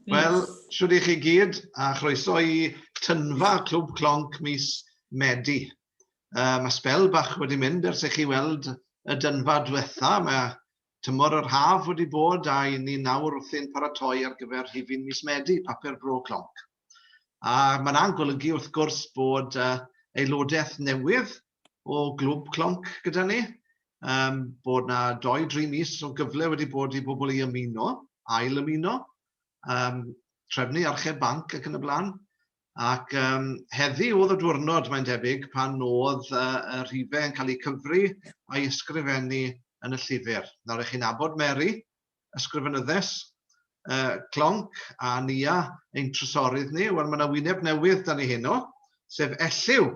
Wel, siwr i chi gyd, a chroeso i tynfa Clwb Clonc mis Medi. Uh, mae spel bach wedi mynd ers i chi weld y dynfa diwetha. Mae tymor yr haf wedi bod a i ni nawr wrthi'n paratoi ar gyfer rhifin mis Medi, papur bro Clonc. A mae'n golygu wrth gwrs bod uh, aelodaeth newydd o Glwb Clonc gyda ni, yym bod 'na dou, dri mis o gyfle wedi bod i bobl i ymuno, ail ymuno, yym trefnu archeb banc ac yn y blaen, ac yym heddi o'dd y dwrnod mae'n debyg pan o'dd yy y rhife yn cael eu cyfri a'i ysgrifennu yn y llyfr. Nawr i chi'n abod Mary, ysgrifenyddes yy Clonc a Nia ein trysorydd ni, wel ma' 'na wyneb newydd 'da ni heno, sef Elliw.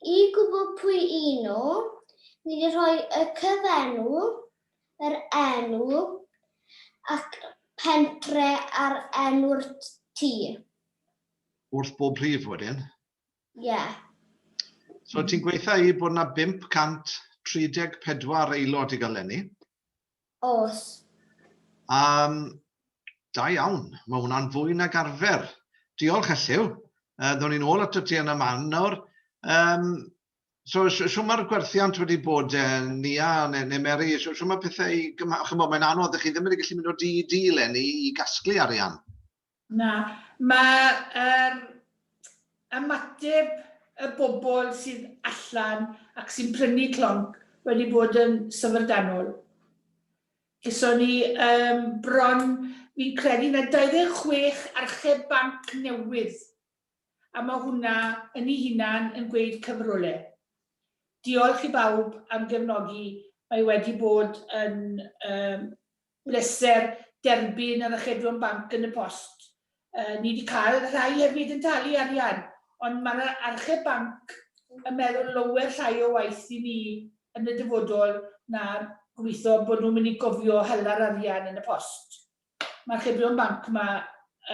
I gwybod pwy y'n nhw, ni rhoi y cyfenw, yr enw ac pentre ar enw'r tŷ. Wrth bob rhif wedyn? Ie. So ti'n gweitha i bod 'na 534 aelod i gael lenni. Oes. Um, da iawn, mae hwnna'n fwy nag arfer. Diolch Elliw. Uh, Ddo'n ni'n ôl ato ti yn y man nawr. Um, so, so, so mae'r gwerthiant wedi bod uh, Nia neu, neu Mary, so, so mae pethau i gymharu, chymod, mae'n anodd, ydych chi ddim wedi gallu mynd o di i di lenni i gasglu arian. Na, mae yr ymateb y bobl sydd allan ac sy'n prynu clonc wedi bod yn syfrdanol. Geson ni yym bron, fi'n credu na 26 archeb banc newydd, a ma' hwnna yn 'i hunan yn gweud cyfrole. Diolch i bawb am gefnogi, mae wedi bod yn yym bleser derbyn yr achebion banc yn y post. Yy ni 'di cael rhai hefyd yn talu arian, ond mae'r archeb banc yn meddwl lower llai o waith i ni yn y dyfodol na gobeithio bod nhw'n mynd i gofio hela'r arian yn y post. Mae'r achebion banc 'ma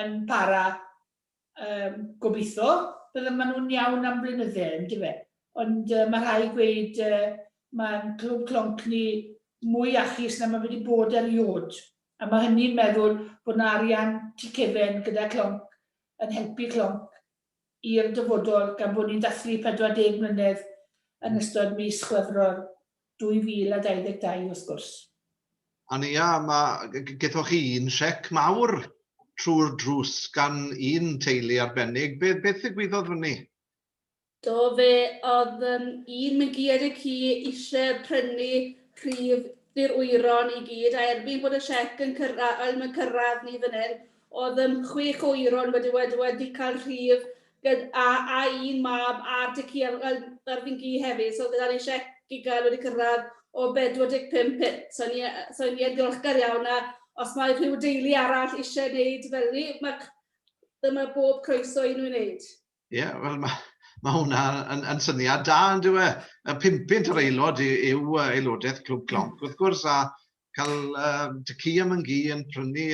yn para Yym, gobeitho, bydde ma nhw'n iawn am blynydde, yndyfe? Ond yy ma rhai gweud yy ma'n clwb clonc ni mwy iachus na ma fe wedi bod eriod. A ma hynny'n meddwl bod na arian tu cefen gyda clonc yn helpu clonc i'r dyfodol gan bod ni'n dathlu 40 mlynedd yn ystod mis Chwefror. 2022 wrth gwrs. Ond ia, mae gethoch chi un siec mawr trwy'r drws gan un teulu arbennig. Be, beth ddigwyddodd fyny? Do, fe oedd um, un mygiad y ci eisiau prynu rhif ddi'r wyron i gyd, a erbyn bod y siec yn cyrraedd, yn cyrraedd ni fan hyn, oedd um, chwech o wyron wedi, wedi, wedi cael rhif Gyda a a'i un mab a'r dŷ ci a'r a'r a'r ddyn gi hefyd so gyda ni siec i gael wedi cyrraedd o 45 punt so ni yy so ni yn ddiolchgar iawn a os mae rhyw deulu arall eisiau wneud fel ni ma' c- dyma bob croeso i nhw wneud. Ie wel ma' ma' hwnna yn yn syniad da yndyw e? Y pum punt yr aelod i- yw yy aelodaeth Clwb Clonc wrth gwrs a cael yy tŷ ci am yn gi yn prynu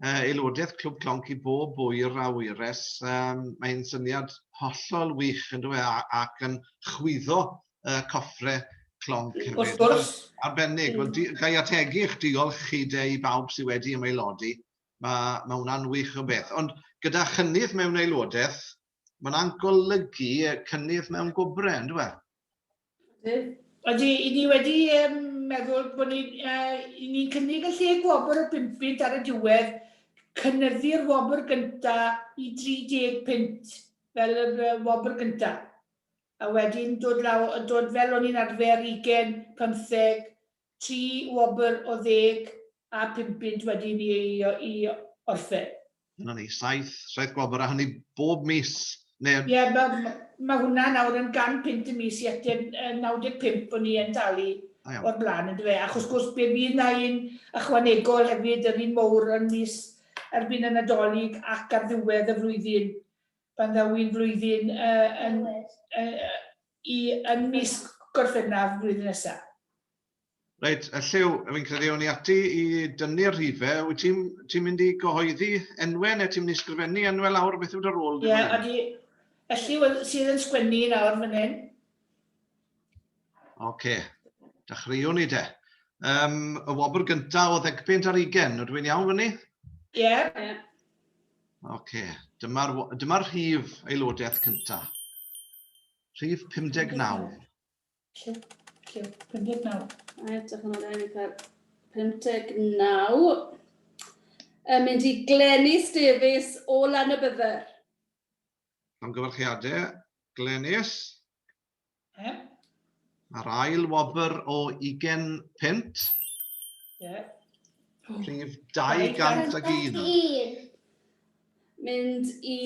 uh, aelodaeth Clwb Clonc i bob oer a oeres. Um, Mae'n syniad hollol wych yn dweud ac yn chwyddo uh, coffre Clonc hefyd. Wrth gwrs. Arbennig. Wel, di, gai ategu eich diolch chi de i bawb sydd wedi ymaelodi. Mae, mae hwnna'n wych o beth. Ond gyda chynnydd mewn aelodaeth, ma hwnna'n golygu cynnydd mewn gwobrau, yn dweud? Ydy, i ni wedi um, meddwl bod ni'n uh, ni cynnig y lle gwobr o 5 pint ar y diwedd, cynnyddu'r wobr gyntaf i 30 pint fel y uh, wobr gyntaf. A wedyn dod, law, dod fel o'n i'n arfer 20, 15, tri wobr o ddeg a phum punt wedi mi eilio i orffen. Dyna ni, saith, saith gwobr, a hynny bob mis, neu... Ie, mae, mae hwnna nawr yn gan punt y mis i ateb yy 95 o'n i yn dalu o'r blaen, yn dyfe? Ac wrth gwrs, be fydd na un ychwanegol hefyd, yr un mowr yn mis erbyn y Nadolig ac ar ddiwedd y flwyddyn, pan ddaw un flwyddyn yy yn yy i ym mis Gorffennaf flwyddyn nesa. Reit, a Lliw, fi'n credu o'n i ati i dynnu'r rhifau. Wyt ti'n ti mynd i gyhoeddi enwau neu ti'n mynd i sgrifennu enwau lawr? Beth yw dy rôl? Ie, yeah, ydy. A Lliw sydd yn sgwennu nawr fan hyn. Oce, okay. dechreuwn ni de. Um, y wobr gyntaf o ddegbynt ar ugen, ydw i'n iawn fyny? Ie. Yeah. Oce, dyma'r dyma rhif aelodaeth cynta. Rhif 59. Lle? Lle? 59. A edrych yn ôl i cael 59. Yn mynd i Glenys Davies o Lanybydder. Am gyfarchiadau, Glenys. Yeah. Mae'r ail wobr o 20 punt. Yeah. Prif 201. Mynd i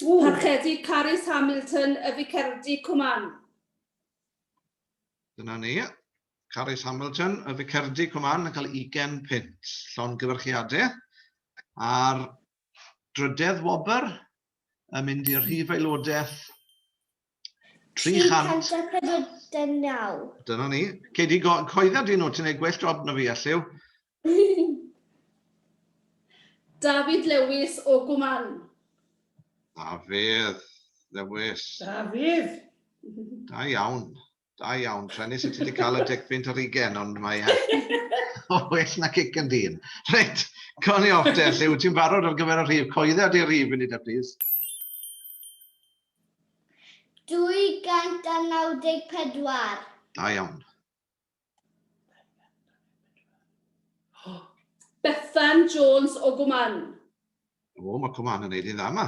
Parchedi Carys Hamilton y Ficerdy Cwman. Dyna ni. Carys Hamilton y Ficerdy Cwman yn cael 20 punt. Llon gyfyrchiadau. A'r drydedd wobr yn mynd i'r rhif aelodaeth 300. 349. Dyna ni. Cei di go- coedda di nhw, ti'n ei gwell job na fi, Elliw. David Lewis o Gwman. Dafydd, Lewis. Dafydd! Da iawn. Da iawn, Trenis, y ti wedi cael y deg pwynt ar ugen, ond mae e o well na cic yn dyn. Reit, cawn ni off te, lle wyt ti'n barod ar gyfer y rhif? Coedda di'r rhif i ni da, plis. 294. Da iawn. Bethan Jones o Gwman. O, mae Cwman yn neud i'n dda yma.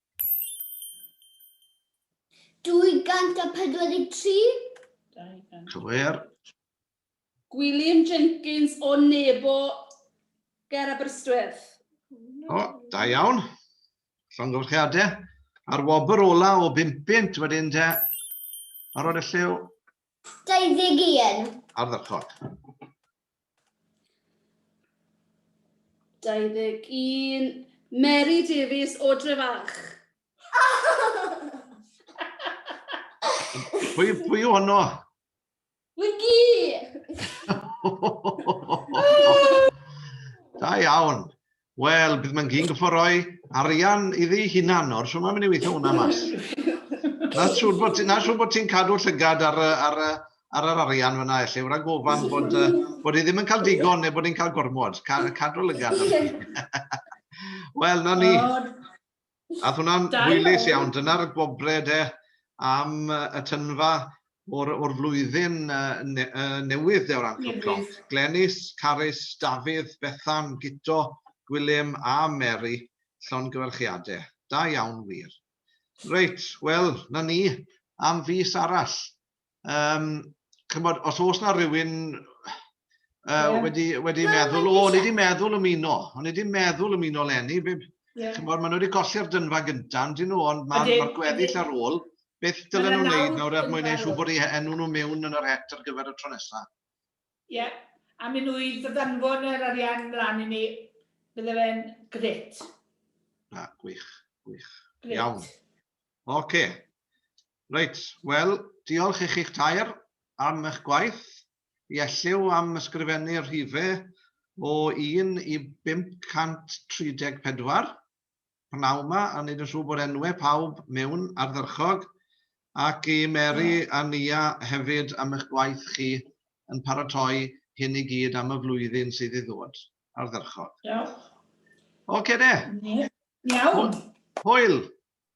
243. 200. Cywir. Gwilym Jenkins o Nebo ger Aberystwyth. O, da iawn. Llongyfarchiadau. A'r wobr ola o 5 wedyn te. Ar oed y lliw. 21. Ardderchog. 21. Mary Davies o Drefach. Pwy, pwy o honno? Wigi! da iawn. Wel, bydd mae'n gyn gyffo roi arian iddi hunan nawr, so mae'n mynd i weithio hwnna mas. Na siŵr bod ti'n siŵr bod ti'n cadw llygad ar, ar, ar yr arian fyna, felly, wrth gofan bod, bod i ddim yn cael digon neu bod i'n cael gormod. Cadw lygad. Wel, na ni. Ath hwnna'n hwylus iawn, dyna'r gwobre de am y tynfa o'r flwyddyn newydd de o ran Clwb Clonc. Glenys, Carys, Dafydd, Bethan, Guto, Gwilym a Mary, llongyfarchiade. Da iawn wir. Reit, wel, 'na ni, am fis arall. Um, chymod, os oes na rhywun uh, yeah. wedi, wedi yeah, meddwl, o, o'n i wedi meddwl ymuno, o'n i wedi meddwl ymuno lenni, yeah. chymod, maen nhw wedi colli'r dynfa gyntaf, ond dyn nhw, ond mae'r ma gweddill ar ôl, beth dylen nhw'n gwneud nawr er mwyn ei siw bod ei enw nhw mewn yn yr het ar gyfer y tro nesaf? Ie, yeah. a mynd nhw i ddydanfon yr arian mlaen i ni, bydde fe'n gret. Na, gwych, gwych. Gret. Iawn. Oce. Okay. Reit, wel, diolch i chi'ch tair am eich gwaith. I elliw am ysgrifennu rhife o 1 i 534, pnawn 'ma, a wneud yn siŵr bod enwau pawb mewn ardderchog, ac i Mary a Nia hefyd am eich gwaith chi yn paratoi hyn i gyd am y flwyddyn sydd i ddod. Ardderchog. Diolch. Ocê de. Iawn. Hwyl.